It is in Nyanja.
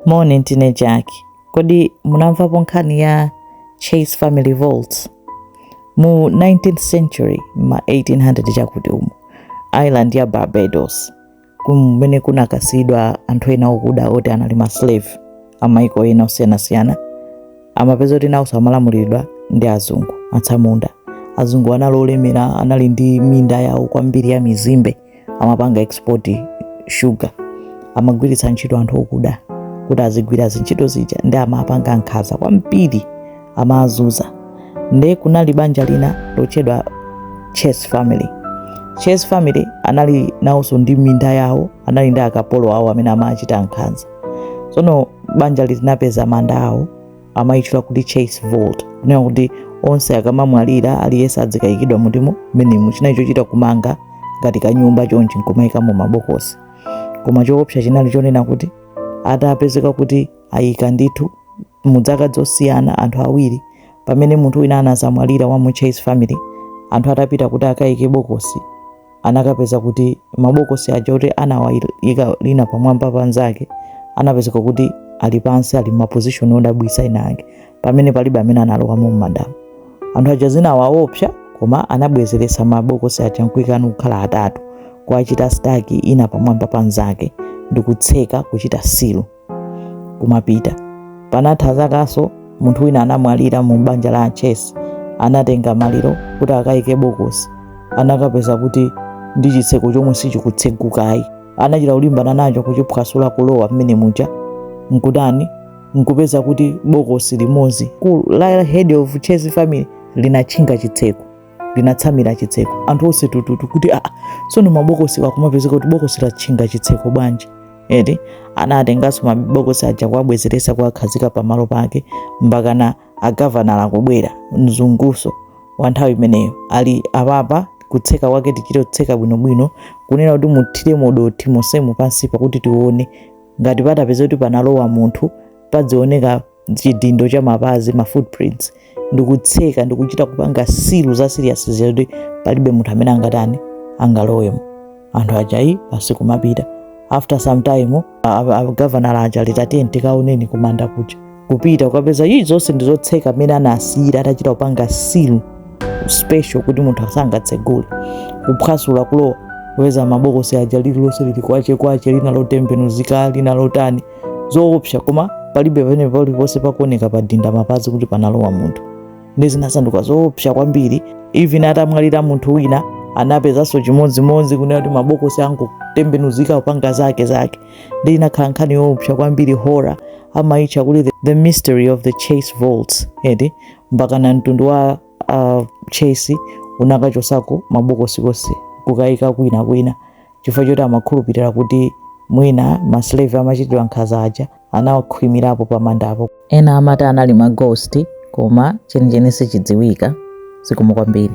Moni ndine Jack. Kodi munamvapo nkhani ya Chase Family Vaults? Mu 19th century, ma 1800 chakuti umu, island ya Barbados, kumene kunakasiyidwa anthu ena okuda oti anali ma slave amaiko ena osiyanasiyana, amapezeka kuti nawonso amalamuliridwa ndi azungu atsamunda. Azungu anali olemera, anali ndi minda yawo kwambiri ya mizimbe. amapanga export sugar amagwiritsa ntchito anthu okuda kuti azigwira zintchito zija ndi amapanga nkhanza kwambiri amazunza nde kunali banja lina lotchedwa chase family chase family anali nawonso ndi minda yawo anali ndi akapolo awo amene amachita nkhanza tsono banja linapeza manda awo amayitchula kuti chase vault kunena kuti onse akamamwalira aliyense adzikayikidwa mu tomb menemu chinali chochita kumanga ngati kanyumba chonchi nkumayikamo mabokosi koma choopsa chinali chonena kuti atapezeka kuti ayika ndithu mu zaka zosiyana anthu awiri pamene munthu wina anazamwalira wa mu chase family anthu atapita kuti akayike bokosi anakapeza kuti mabokosi aja oti anawayika lina pamwamba pa nzake anapezeka kuti ali pansi ali m'mapozishoni odabwisa ina ake pamene palibe amene analowamo m'mandamu anthu aja zinawaopsa koma anabwezeretsa mabokosi aja nkuikanso kukhala atatu kuwachita staki ina pamwamba pa nzake ndi kutseka kuchita silo kumapita panatha zakanso munthu wina anamwalira mu banja la chesi anatenga maliro kuti akayike bokosi anakapeza kuti ndi chitseko chomwe sichikutsegukayi anachita kulimbana nacho kuchiphwasula kulowa mmene muja nkutani nkupeza kuti bokosi limodzi la head of chesi family linatchinga chitseko linatsamira chitseko anthu onse tututu kuti aa tsono mabokosi akumapezeka kuti bokosi latchinga chitseko bwanji eti anatenganso mabokosi aja kuwabwezeresa kuwakhazika pamalo pake mpakana agavanala kubwera mzunguso wa nthawi imeneyo ali apapa kutseka kwake tichite kutseka bwinobwino kunena kuti muthire modothi monsemu pansi pakuti tione ngati patapeza kuti panalowa munthu padzioneka chidindo cha mapazi ma footprints ndikutseka ndikuchita kupanga silu za serious zoti palibe munthu amene angatani angalowemo anthu ajayi basi kumapita after some time gavanala aja ali tiyeni tikaoneni kumanda kuja kupita kukapeza ayi zonse ndizotseka mmene anasiyira atachita kupanga silu special kuti munthu asangatsegule kuphwasula kulowa kupeza mabokosi aja lililonse lili kwache kwache lina lotembenuzika lina lotani zoopsa koma palibe pamene paliponse pakuoneka padinda mapazi kuti panalowa munthu ndi zinasanduka zoopsa kwambiri even atamwalira munthu wina anapezanso chimodzimodzi kunena kuti mabokosi angotembenuzika kupanga zake zake ndi inakhala nkhani yoopsa kwambiri horror amayitcha kuti the, the mystery of the chase vaults edi mpakana mtundu wa uh, chase unakachosako mabokosi onse kukayika kwina kwina chifukwa choti amakhulupirira kuti mwina maslave amachitidwa nkhanza aja anawakhwimirapo pa mandapo ena amati anali ma ghost koma chenicheni sichidziwika zikomo kwambiri